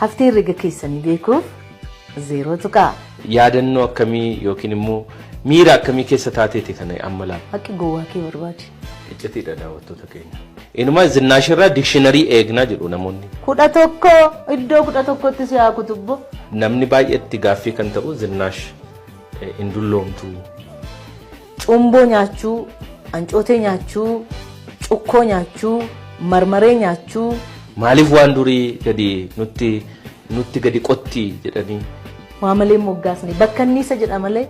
Haftee herrega keessanii beekuuf zeeroo tuqaa. Yaadannoo akkamii yookiin immoo miira akkamii keessa taateeti kana amma laata? Haqi gowwaa kee barbaadi. Iccitiidha daawwattoota keenya. Inuma zinnaashirraa dikshiinarii eegnaa jedhu namoonni. Kudha tokko iddoo kudha tokkotti si haa kutubbo. Namni baay'eetti gaaffii kan ta'u zinnaash hin dulloomtu. Cumboo nyaachuu, ancootee nyaachuu, cukkoo nyaachuu, marmaree nyaachuu. Maaliif waan durii gadi nutti nutti gadi qotti jedhanii. Waa malee moggaasni bakka anniisa jedha malee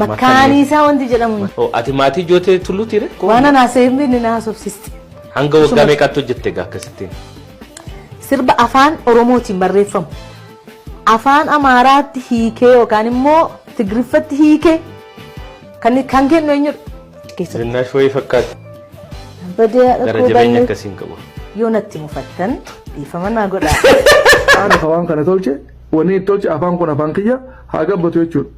makkaaniisaa wanti jedhamu. hin- Oh, Ati maatii jootee tulluuti re? Waan anaa seemni inni na haasofsiiste. Hanga waggaa meeqaatti hojjette egaa akkasittiin? Sirba afaan Oromootiin barreeffamu. afaan amaaraatti hiikee yookaan immoo tigriffatti hiike kan kan kennu eenyudha? Keessatti Zinnaash wayii fakkaata. badee Gara rakkoo jabeenya banne akkasiin qabu. yoo natti mufattan dhiifama naa godhaa. Haadha kan waan kana tolche wanni itti tolche afaan kun afaan kiyya haa gabbatu jechuudha.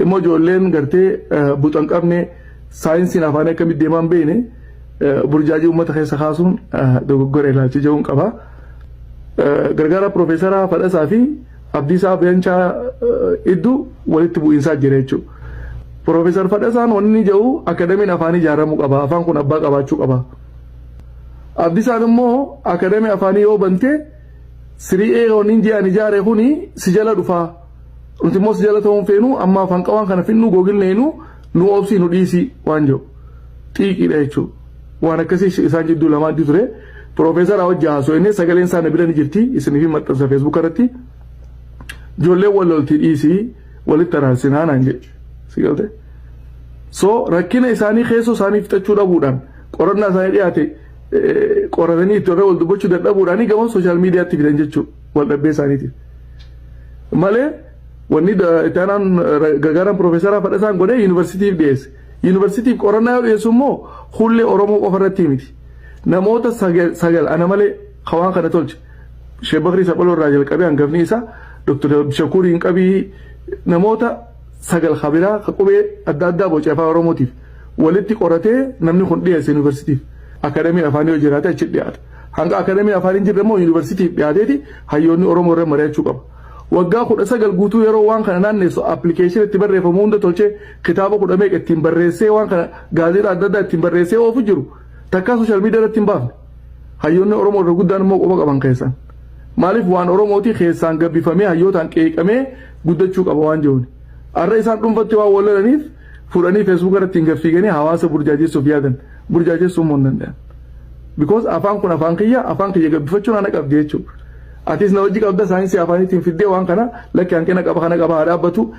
Immoo ijoolleen gartee eh, buxan qabne saayinsiin afaan akkamitti deemaa hin beekne eh, burjaajii uummata keessa kaasuun eh, dogoggora ilaalcha jedhuun qaba. gargaaraa Piroofeesaraa Fadhasaa fi Abdiisaa Beencaa iddu walitti bu'iinsaa jira jechuudha. Piroofeesar Fadhasaan wanni jedhu akadamiin afaanii ijaaramuu qaba. Afaan kun abbaa qabaachuu qaba. Abdisaan immoo akadamii afaanii yoo bante siri'ee wanni ji'an ijaare kuni si jala dhufaa. Nuti immoo si jala ta'uun feenu amma afaan qawaan kana finnuu googilneenu nu obsii nu dhiisii waan jedhu. xiiqiidha jechuudha. Waan akkasii isaan jidduu lamaan ture piroofeesaraa hojii haasoo inni sagaleen isaa na bira ni jirti isiniif hin maxxansa feesbuuka irratti ijoollee wal loltii dhiisii walitti araarsinaa naan jedhe si galte. So rakkina isaanii keessoo isaanii fixachuu dhabuudhaan qorannaa isaanii dhiyaate qoratanii itti irra wal dubbachuu dadhabuudhaan gama sooshaal miidiyaatti fidan jechuudha wal dhabbee isaaniitiif. Malee wanni itti aanaan gargaaraan piroofeesaraa fadhasaan godhee yuunivarsiitiif dhiyeesse. Yuunivarsiitiif qorannaa yoo dhiyeessu immoo hullee Oromoo qofa irratti miti. Namoota sagal ana malee ka waan kana tolche. Sheek Bakrii Saphaloo irraa jalqabee hangafni isaa Dr. Abdishakuur Inqabii namoota sagal ka biraa ka qubee adda addaa boce afaan Oromootiif walitti qoratee namni kun dhiyeesse yuunivarsiitiif. Akadamiin afaanii yoo jiraate achi dhiyaata. Hanga akadamiin afaan hin jirre immoo yuunivarsiitiif dhiyaateeti hayyoonni Oromoo irra mari'achuu qaba. Waggaa kudha sagal guutuu yeroo waan kana naanneessu appilikeeshinii itti barreeffamu hunda tolchee Kitaaba kudha meeqa ittiin barreessee waan kana gaazexaa adda addaa ittiin barreessee oofu jiru takkaa sooshaal miidiyaa irratti hin baafne. Hayyoonni Oromoo irra guddaan immoo quba qaban keessan. Maaliif waan Oromooti keessaan gabbifamee hayyootaan qeeqamee guddachuu qaba waan jiruun. Har'a isaan dhuunfatti waan wal lolaniif fuudhanii feesbuuka irratti hin gaffiiganii hawaasa burjaajessuuf yaadan burjaajessuu immoo hin danda'an. Because afaan kun afaan kiyya afaan kiyya gabbifachuun ana qabdi jechuudha. Atis na wajji qabda saayinsii afaaniitiin fiddee waan kana lakki hanqina qaba kana qaba haa dhaabbatu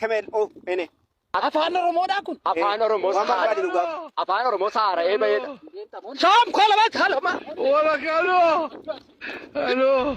kemel o ene. Afaan Oromoodhaa kun? Afaan Oromoo Waan barbaade Sahaara. nu gaafadhu. Afaan Oromoo Sahaara'ee baheedha. Soom koo lama kaa lama. Wala kalo. Hello.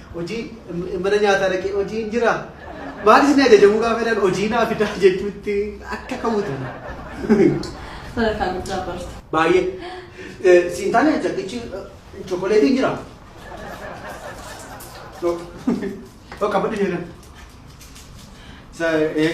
Hojii mana nyaataa dhaqee hojiin jira maal isin ajajamuu gaafa jedhan hojii naa fidaa jechuutti akka kawwatan. Sadarkaa guddaa barta. Baay'ee. Eh, Siin taane jaddichi chokoleetiin jira. Yoo yoo qabadhu jedhan. Sa eh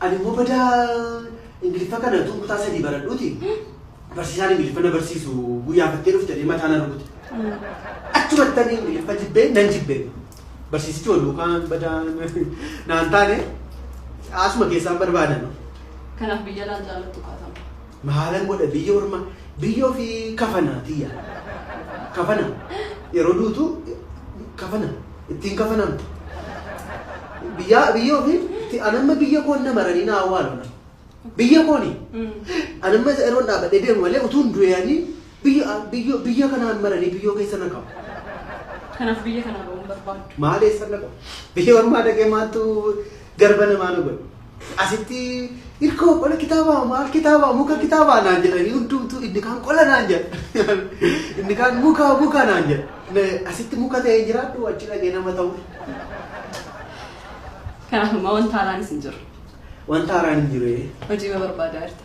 Ani immoo badaa Ingiliffa kana utuu kutaa sadii baradhuuti barsiisaan Ingiliffa na barsiisu guyyaafattee dhufte jedhee mataa na rukute. Achumatti ani Ingiliffa jibbee nan jibbee. Barsiisichi wal duukaan badaa naan taane asuma keessaan barbaadan. Kanaaf biyya laan jaallattu qaatama. Maalan godha biyya orma biyya ofii kafana tiyya. Kafana yeroo duutu kafana. Ittiin kafanamta. Biyyaa biyya ofii ti anamma biyya koon na maranii na awwaalona. Biyya kooni anamma isa yeroon dhaabadhee deemu malee utuun du'eeyanii biyya biyya biyya kanaan maranii biyyoo keessa na qabu. Kanaaf biyya kanaa ba'uun barbaaddu. Maal eessa na qabu? Biyya ormaa dhaqee maaltu garba namaa na godhe. Asitti hirkoo qola kitaabaa maal kitaabaa muka kitaabaa naan jedhanii hundumtuu inni kaan qola naan jedha. Inni kaan muka muka naan jedha. Na- Asitti muka ta'ee jiraadhu achi dhaqee nama ta'u. Kanaaf ammaa wanta haaraan isin jiru. Wanta haaraan hin jiru. Hojii ma barbaadaa jirta?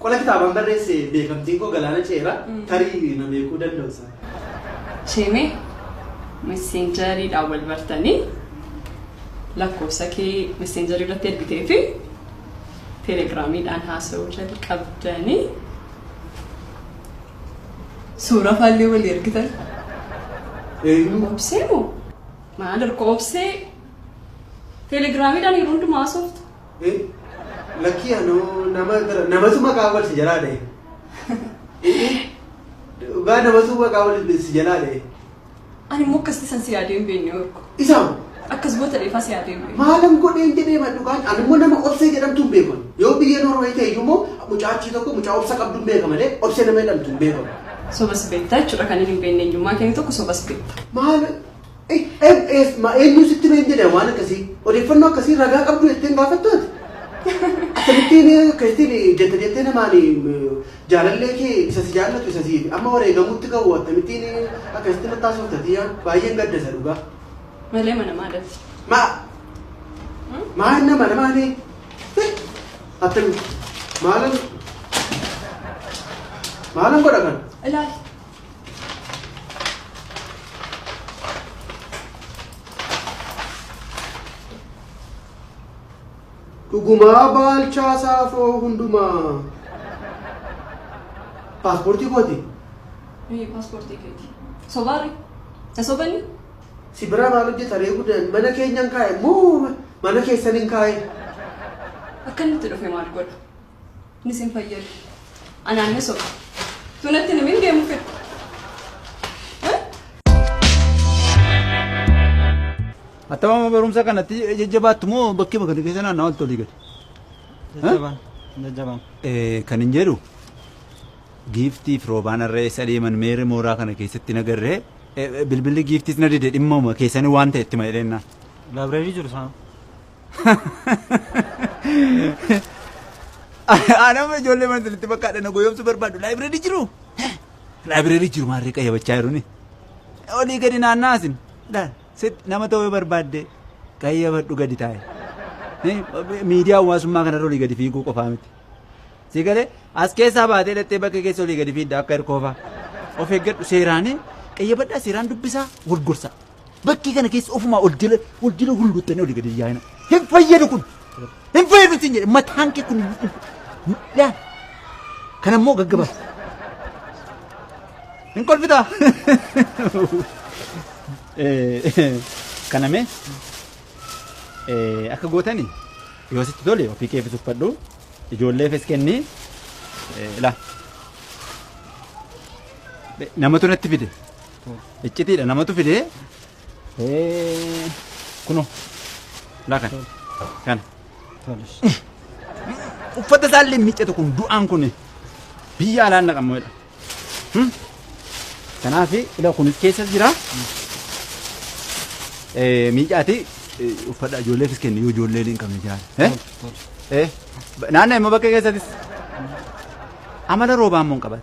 Qola kitaabaan barreesse beekamtiin koo galaana ce'eera tarii na beekuu danda'u sana. Sheemee messenjeriidhaan wal bartanii lakkoofsa kee messenjerii irratti ergitee fi telegiraamiidhaan haasa'uu jalqabdanii suuraa faallee walii ergitan. Eenyu? Obsee moo? Maal erga obsee telegiraamiidhaan yeroo hundumaa haasoftu? Ee lakkii anoo nama bira namatu maqaa wal si jalaa dha'e. Ee dhugaa namatu maqaa wal si jalaa dha'e. Ani immoo akkasitti san si yaadee hin beekne orko. Isa hoo? Akkas goota dheefaa si yaadee hin beekne. maalan godheen jedhee ma dhugaan ani immoo nama obsee jedhamtu hin beekamu yoo biyya Noorwee ta'e iyyuu immoo mucaa achii tokko mucaa obsa qabdu hin beeka malee obsee nama jedhamtu hin beekamu Sobas beektaa jechuudha kan inni hin beekne eenyummaa keenya tokko sobas beekta. maal Eef ma eenyuu sitti hime hin jedhe waan akkasii odeeffannoo akkasii ragaa qabdu jetteen gaafattu ati. Akkamittiin keessattiin jette jettee namaan jaalallee kee isa si jaallatu isa si amma wareegamuutti ga'u akkamittiin akkasitti natti haasofta tiyyaa baay'een gadda isa dhugaa. Malee mana maadatti. Ma maa inni mana maani attam maalan maalan godha kan Ilaali. Dhugumaa baalchaa saafoo hundumaa. Paaspoortii kooti. Ee, paaspoortii keeti. Sobaarri. Na sobani? Si biraa maal hojjeta reefu dan mana keenyan kaa'e moo mana keessan hin kaa'e. Akkamitti dhufe maal godha? Ni sin fayyadu. Anaan ni soba. Tunatti ni min deemu fedhu. Attamama barumsa kanatti jajjabaattu moo bakkee bakka keessa naannaa oltu olii gadi? Jajjabaan. Jajjabaan. Kan hin jedhu giiftii fi roobaan irra eessa deeman meerri mooraa kana keessatti nagarree bilbilli giiftiis na dide dhimmuma keessanii waan ta'e itti ma'ileennaan. Laabireerii jiru isaan. Anama ijoollee mana sanitti bakka dhana goyoomsu barbaadu laayibireerii jiru. Laayibireerii jiru maarree qayyabachaa jiruni. Olii gadi naannaa asin. Laal sit nama ta'uu yoo barbaadde qayyabadhu gadi taa'e. Miidiyaa hawaasummaa kanarra olii gadi fiiguu qofaa miti. Si galee as keessaa baatee dhattee bakka keessa olii gadi fiidda akka hirkoofaa. Of eeggadhu seeraanii qayyabadhaa seeraan dubbisaa wal gorsaa. Bakkee kana keessa ofumaa ol jala ol jala hulluuttanii olii gadi yaa'ina. Hin fayyadu kun. Hin fayyadu siin jedhe mataan kee kun. Yaa. Kan ammoo gaggabaa. Hin kolfitaa. Kana mee akka gootani yoo sitti tole ofii keefis uffadhu ijoolleefis kenni ilaa. Namatu natti fide. Iccitiidha namatu fidee. Ee, Kuno. Lakan. Kana. Uffata isaallee miiccatu kun du'aan kun biyya alaan naqamuudha. Kanaaf ila kunis keessa jira. Eh, Miicaati eh, uffata ijoolleefis kenni yoo ijoollee hin qabne jiraate. Eh? Eh, ba- Naannoo immoo bakka keessattis amala roobaa immoo hin qabate.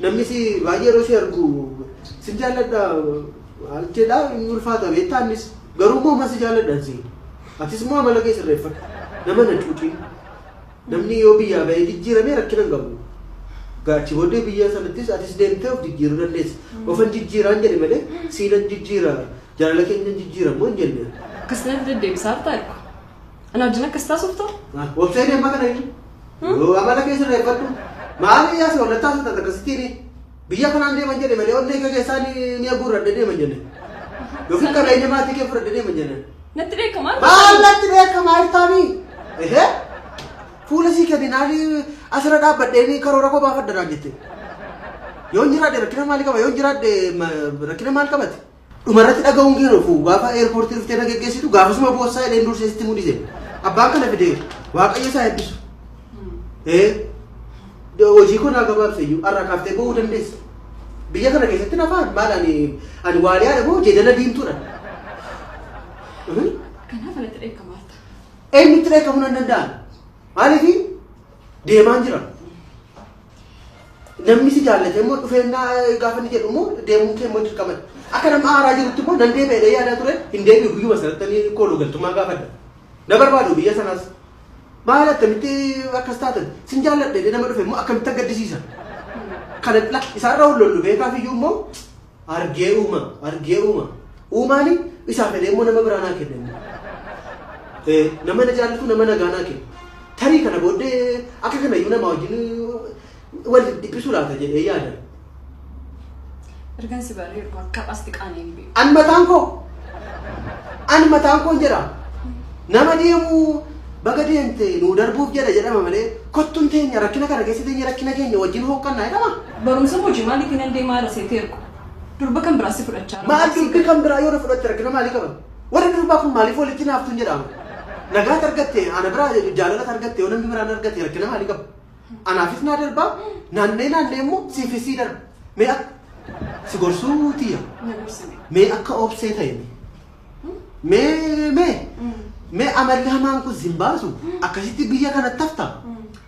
Namni si baay'ee yeroo si argu sin jaalladha maal jedha hin ulfaata beektaa innis garuu immoo si jaalladhan si atis immoo amala kee sirreeffadhu nama na cuucin namni yoo biyyaa ba'ee jijjiirame rakkina hin qabu gaachi booddee biyya sanattis atis deemtee of jijjiiruu dandeessa ofan jijjiiraan jedhe malee siinan jijjiira jaalala keenya jijjiira immoo hin jenne. Akkas natti deddeebisaa harta arku. Ana wajjin akkas taasufta? Wabsee deemaa kana inni. Amala kee sirreeffadhu. Maali yaa si wallattaa sun takka sittiini. Biyya kanaan deeman jedhe malee onnee kee keessaa ni ni aguurradhe deeman jenne. Yookiin qabeenya maatii kee fudhadhe deeman jenne. Natti beekamaa Maal natti beekamaa iftaanii? Ehee? Fuula sii kardinaalii asirra dhaabbadhee ni karoora koo baafadha naan jette. Yoon jiraadhe rakkina maali qaba? Yoon jiraadhe ma- rakkina maal qabate? Dhumarratti dhaga'uun kee hin ofu. Gaafa airport dhuftee na geggeessitu gaafasuma boossaa jedheen dursee sitti mudise. Abbaan kana fide waaqayyo isaa eebbisu. Ee hojii koo naa gabaabse iyyuu har'a kaaftee ba'uu dandeessa. Biyya kana keessatti na fa'aan maal ani ani waaliyaadha moo jeedala diimtuudha. Kanaaf anatti dheekkamaa jirta. Eenyutti dheekkamuu nan danda'an? Maaliif deemaan jira? Namni si jaallatee immoo dhufeennaa gaafa inni jedhu immoo deemuun kee immoo dirqama. Akka nama haaraa jirutti immoo nan deebi'a jedhee yaadaa ture hin deebi'u guyyuma sanatti ani kooluu galtummaa gaafadha. Na barbaadu biyya sanaas. Maal akkamitti akkas taatan sin jaalladhe jedhee nama dhufe immoo akkamitti gaddisiisa. Kana isaan irraa wal lollu beekaaf iyyuu immoo Argee uuma, argee uuma. Uumaani isaa fedhee immoo nama biraa naa kenna immoo. Ee, nama na jaallatu nama nagaa naa kenna. Tarii kana booddee akka kana iyyuu namaa wajjin wal dhiphisu laata jedhee yaada. Ergan si baree ergu akka as xiqaanee hin beeku. An mataan koo an mataan koon jedha nama deemu baga deemte nuu darbuuf jedha jedhama malee kottun teenya rakkina kana keessa teenya rakkina keenya wajjin hooqqannaa jedhama. Barumsa moji maaliti nan deemaa irra seete ergu durba kan biraa si fudhachaa irra Maal durbi kan biraa yoo na fudhatte rakkina maalii qaban? Warri durbaa kun maaliif walitti naaftuun jedhaama? Nagaat argatte ana biraa jaalalata argatte yoo namni biraan argate rakkina maalii qaba? Anaafis naa darbaa naannee naannee immoo siifis sii darba. Mee akka si gorsuu tiyya. na gorsine. Mee akka obsee ta'e mee. Mee mee mee amalli hamaan kun sin baasu akkasitti biyya kanatti hafta.